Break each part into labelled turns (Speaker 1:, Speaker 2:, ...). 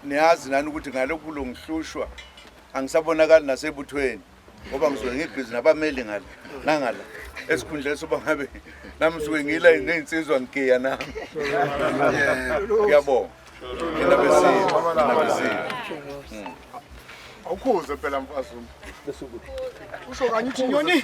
Speaker 1: niyazi nani ukuthi ngalokhu kulo ngihlushwa angisabonakali nasebuthweni ngoba ngisuke ngibhizi nabameli ngala nangala esikhundleni soba ngabe nami suke ngila ney'nsizwa ngigiya nami ngiyabonga nina besile nina besile
Speaker 2: awukhuze phela mfazi usho kanye uthi nyoni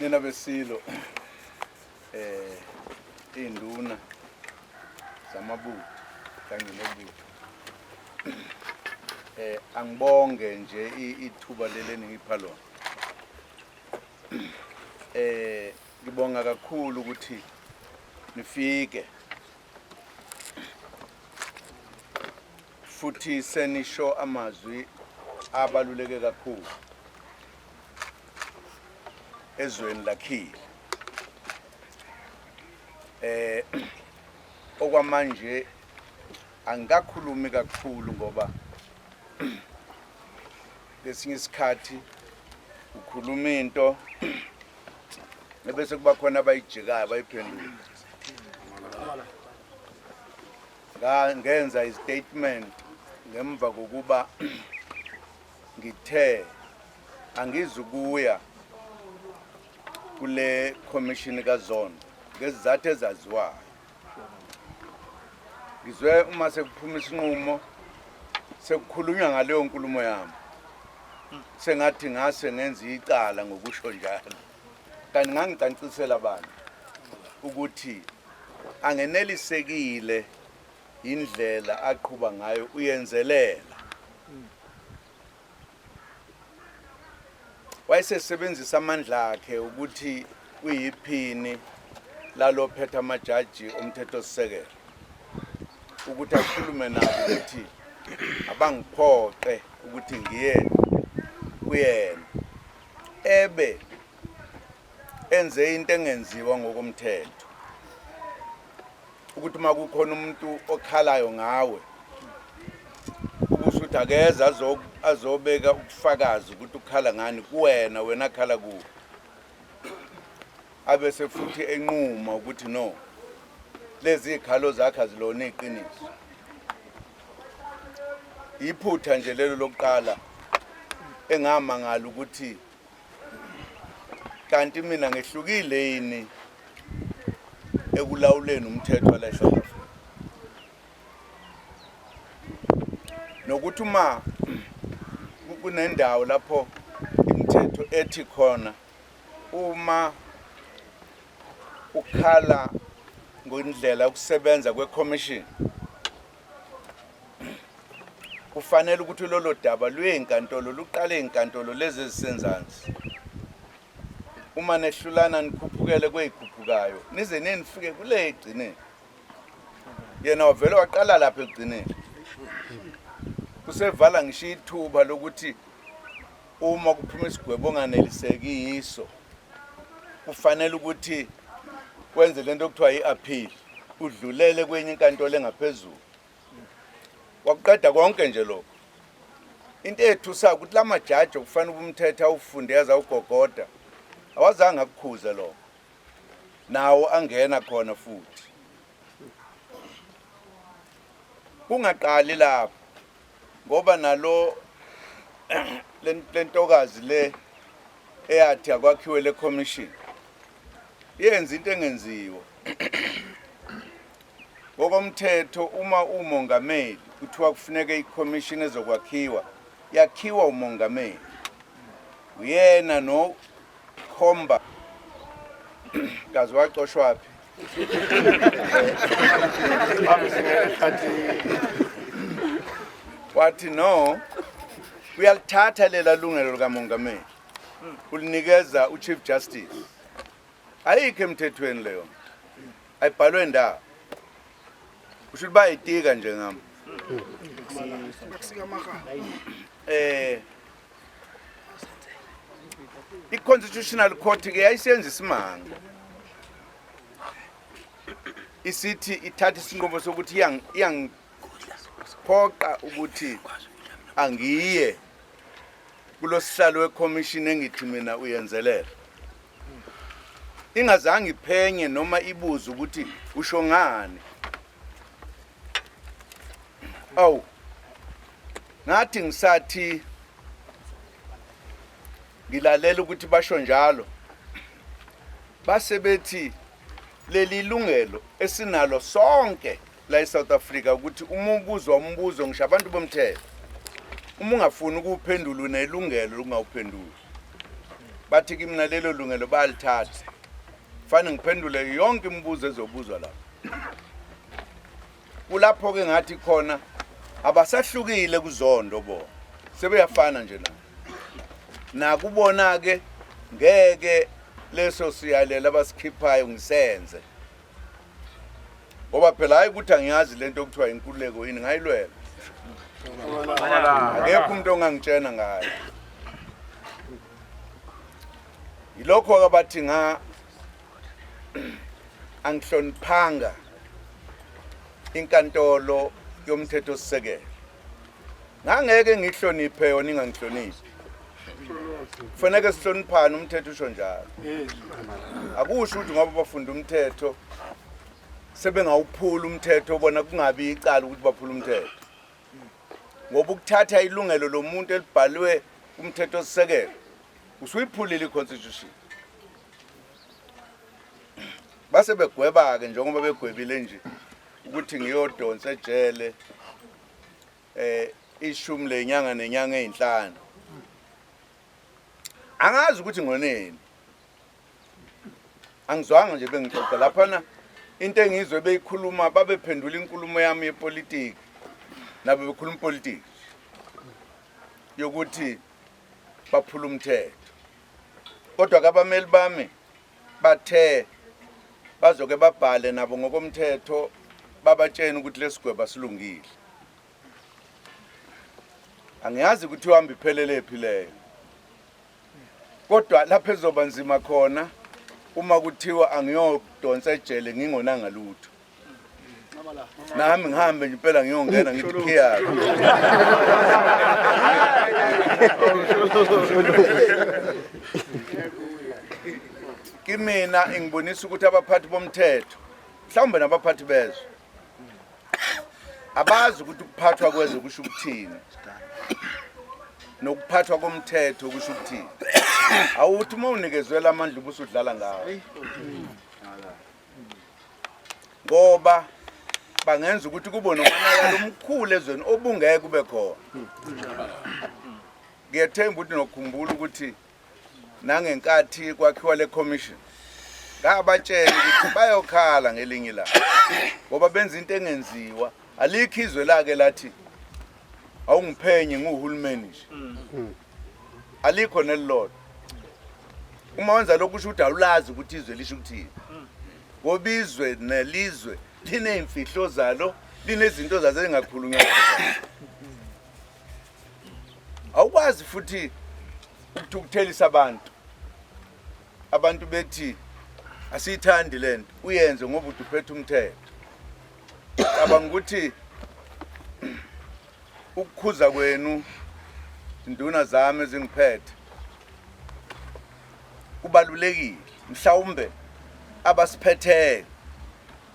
Speaker 3: nina besilo eh induna zamabutho kanye nebutho eh angibonge nje ithuba leli ningipha lona eh ngibonga kakhulu ukuthi nifike futhi senisho amazwi abaluleke kakhulu ezweni lakhile eh okwamanje angikakhulumi kakhulu ngoba lesinye isikhathi ukhuluma into ebese kuba khona abayijikayo abayiphendula ngenza istatement ngemva kokuba ngithe angizukuya kule commission kazone ngezizathu ezaziwayo ngizwe uma sekuphuma isinqumo sekukhulunywa ngaleyo nkulumo yami sengathi ngase ngenza icala ngokusho njalo Kanti ngangicancisela bani ukuthi angenelisekile indlela aqhuba ngayo uyenzelela wayesesebenzisa amandla akhe ukuthi uyiphini lalophetha amajaji omthethosisekelo ukuthi akhulume nabo ukuthi abangiphoqe ukuthi ngiye kuyena ebe enze into engenziwa ngokomthetho ukuthi uma kukhona umuntu okhalayo ngawe ukuthi akeze azobeka ubufakazi ukuthi ukhala ngani kuwena wena khala kuwe abese futhi enquma ukuthi no lezi zikhalo zakhe azilona iqiniso Iphutha nje lelo lokuqala engamangala ukuthi kanti mina ngehlukile yini ekulawuleni umthetho wala South Africa nokuthi uma kunendawo lapho imithetho ethi khona Uma
Speaker 1: ukhala ngondlela ukusebenza kwekhomishini kufanele ukuthi lolo daba lweyinkantolo luqale inkantolo lezi ezisenzansi uma nehlulana nikhuphukele kweyikhuphukayo nize nenifike kule egcineni yena wavele waqala lapha egcineni usevala ngisho ithuba lokuthi Uma kuphuma isigwebo onganeliseki yiso kufanele ukuthi kwenze lento okuthiwa i-appeal udlulele kwenye inkantolo engaphezulu wakuqeda konke nje lokho into ethusayo ukuthi la majaji okufanele ubumthetha awufunde yaze awugogoda awazange akukhuze lokho nawo angena khona futhi kungaqali lapho ngoba nalo lentokazi le eyathi akwakhiwe le commission yenza into engenziwa ngokomthetho uma umongameli kuthiwa kufuneka i-commission ezokwakhiwa yakhiwa umongameli uyena nokhomba kazi wacoshwaphi wathi no uyalithatha lela lungelo likamongameli ulinikeza uchief justice ayikho emthethweni leyo ayibhalwe ndawo usho ukuthi bayitika nje ngami eh i-constitutional court ke yayisenza isimanga isithi ithatha isinqumo sokuthi iyangiphoqa ukuthi angiye kulosihlalo wekhomishini engithi mina uyenzelela ingazange iphenye noma ibuze ukuthi usho ngani awu ngathi ngisathi ngilalela ukuthi basho njalo base bethi leli lungelo esinalo sonke la eSouth Africa ukuthi uma ubuzwa umbuzo ngisho abantu bomthetho uma ungafuni ukuphendula unelungelo lokungawuphenduli bathi kimina lelo lungelo bayalithatha fane ngiphendule yonke imibuzo ezobuzwa lapha kulapho ke ngathi khona abasahlukile kuzondo bo sebeyafana nje na nakubona ke ngeke leso siyalela abasikhiphayo ngisenze ngoba phela hayi ukuthi angiyazi lento okuthiwa inkululeko yini ngayilwela akekho umuntu ongangitshena ngayo yilokho-ke bathi nga angihloniphanga inkantolo yomthetho sisekelo ngangeke ngihloniphe yona ingangihloniphi kufaneke sihloniphane umthetho usho njalo akusho ukuthi ngoba bafunda umthetho sebengawuphula umthetho bona kungabi icala ukuthi baphula umthetho ngoba ukuthatha ilungelo lomuntu elibhalwe umthetho sisekelo usuyiphulile i-constitution base begweba-ke njengoba begwebile nje ukuthi ngiyodonsa ejele eh ishumi lenyanga nenyanga ezinhlanu angazi ukuthi ngoneni angizwanga nje bengixoxa laphana into engizwe beyikhuluma babephendula inkulumo yami yepolitiki nabo bekhuluma ipolitiki yokuthi baphula umthetho Kodwa ke abameli bami bathe bazoke babhale nabo ngokomthetho babatshene ukuthi lesigweba silungile. Angiyazi ukuthi uhamba iphelelephi leyo. Kodwa lapha ezoba nzima khona uma kuthiwa angiyodonsa ejele ngingonanga lutho. nami ngihambe nje impela ngiyongena ngithi khiyake kimina ingibonisa ukuthi abaphathi bomthetho mhlawumbe nabaphathi bezwe abazi ukuthi ukuphathwa kwezwe kusho ukuthini nokuphathwa komthetho kusho ukuthini awuthi uma unikezwela amandla ubusudlala ngawo ngoba bangenza ukuthi kube nomonakalo omkhulu ezweni obungeke kube khona ngiyethemba ukuthi nokhumbula ukuthi nangenkathi kwakhiwa le commission ngabatshela ukuthi bayokhala ngelinye ilanga ngoba benza into engenziwa alikho izwe lake lathi awungiphenye nguhulumeni nje mm. alikho nelilodwa uma wenza lokhu usho ukuthi awulazi ukuthi izwe lisho ukuthini ngoba izwe nelizwe liney'mfihlo zalo linezinto zazo ezingakhulunywa awukwazi futhi ukuthukuthelisa abantu abantu bethi asiyithandi le nto uyenze ngoba uduphethe umthetho cabanga ukuthi ukukhuza kwenu induna zami ezingiphethe kubalulekile mhlawumbe abasiphetheyo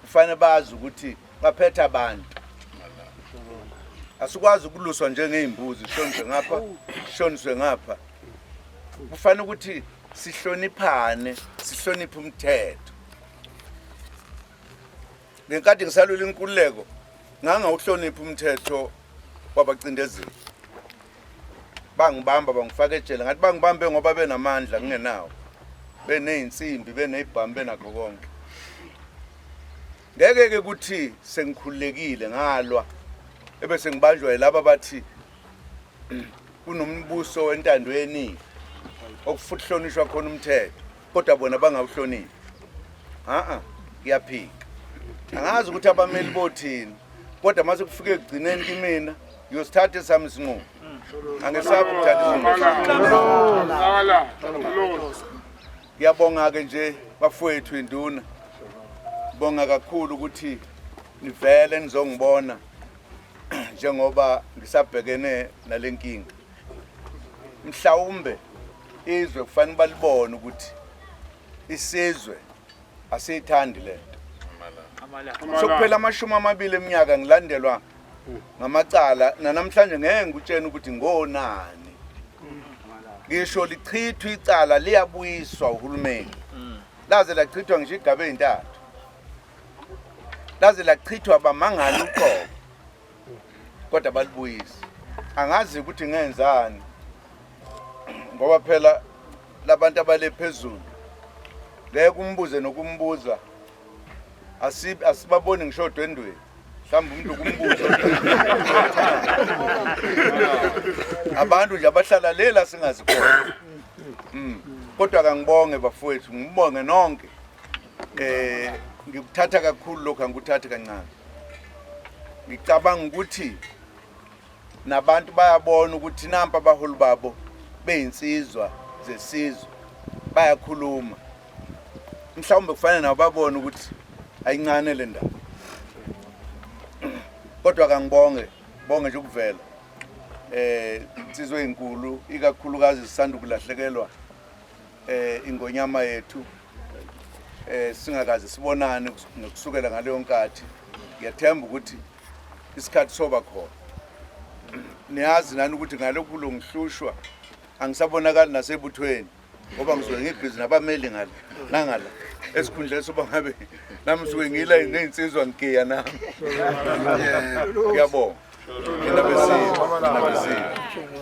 Speaker 1: kufanele bazi ukuthi baphethe abantu asikwazi ukuluswa njengey'mbuzi sishoniswe ngapha sishoniswe ngapha kufanele ukuthi sihloniphane sihloniphe umthetho ngenkathi ngisalwela inkululeko ngangawuhloniphi umthetho wabacindezeli bangibamba bangifaka ejele ngathi bangibambe ngoba benamandla ngingenawo beney'nsimbi beney'bhamu benakho konke ngeke-ke ukuthi sengikhululekile ngalwa ebese ngibanjwa yilaba bathi kunombuso wentando yeningi okufuthi hlonishwa khona umthetho kodwa bona bangawuhloniphi a-a kuyaphika angazi ukuthi abameli bothini kodwa uma sekufike ekugcineni kimina ngiyosithatha esami isinqumo angesabi ukuthatha ngiyabonga-ke nje bafowethu induna bonga kakhulu ukuthi nivele nizongibona njengoba ngisabhekene nale nkinga mhlawumbe izwe kufanele balibone ukuthi isizwe asiyithandi le nto sokuphela amashumi amabili eminyaka ngilandelwa ngamacala nanamhlanje ngeke ngikutshene ukuthi ngonani ngisho lichithwa icala liyabuyiswa uhulumeni laze lachithwa ngisho igaba ezintathu laze lachithwa bamangali uqobo kodwa balibuyise angazi ukuthi ngenzani ngoba phela labantu abale phezulu ngeke umbuze nokumbuza asibaboni ngisho odwendweni mhlawumbe umuntu kumbuzo abantu nje abahlala lela singazi khona hmm. kodwa kangibonge bafowethu ngibonge nonke eh ngikuthatha kakhulu lokho angikuthathi kancane ngicabanga ukuthi nabantu bayabona ukuthi nampa abaholi babo beyinsizwa zesizwe bayakhuluma mhlawumbe kufanele nabo babone ukuthi ayincane le ndaba kodwa kangibonge bonge nje ukuvela eh insizwe enkulu ikakhulukazi sisanda kulahlekelwa eh ingonyama yethu eh singakaze sibonane nokusukela ngaleyo nkathi ngiyathemba ukuthi isikhathi soba khona niyazi nani ukuthi ngalokhu kulongihlushwa angisabonakali nasebuthweni ngoba ngisuke ngibhizi nabameli ngala nangala esikhundleni soba ngabe nami ngisuke ngila ney'nsizwa ngigiya nami ngiyabonga nina besintu nina besintu